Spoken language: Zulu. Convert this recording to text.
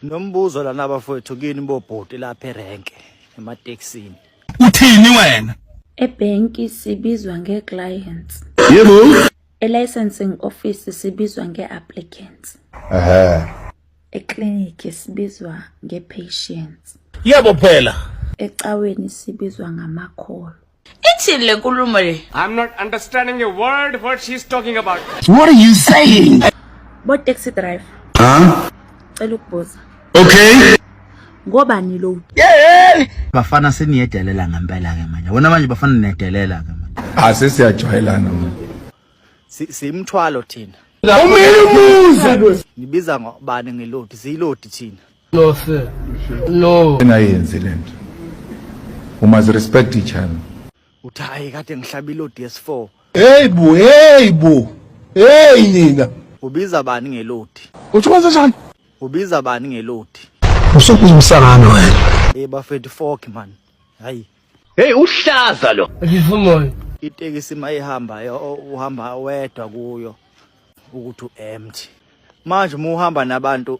Nombuzo lana bafowethu kini bobhuti lapha erenke emateksini. Uthini wena? Ebhenki sibizwa nge-clients. Yebo. E-licensing office sibizwa nge-applicants. Ehhe. E-clinic sibizwa nge-patients. Yebo phela. Ecaweni sibizwa ngamakholo. Ithini le nkulumo le? I'm not understanding a word what she's talking about. What are you saying? Bo taxi driver. Huh? Cela ukubuza. Okay. Ngobani lo? Yeah. Bafana seniyedelela ngempela ke manje. Wona manje bafana nedelela ke manje. Asesiyajwayelana ah, manje. Simthwalo thina. Umile umuzi. Nibiza ngobani ngelodi? Zilodi thina. No sir. No. Engayenzi lento. We must respect each other. Uthi hayi kade ngihlabile oDS4. Hey bu, hey bu. Hey nina. Ubiza bani ngelodi? Uthi kwenza njani? Ubiza bani ngelodi? Usukuza umsangano wena. Hey bafethu fork man. Hayi. Hey uhlaza lo. Ngivumoyo. Itekisi mayihamba uhamba wedwa kuyo ukuthi uempty. Manje uma uhamba nabantu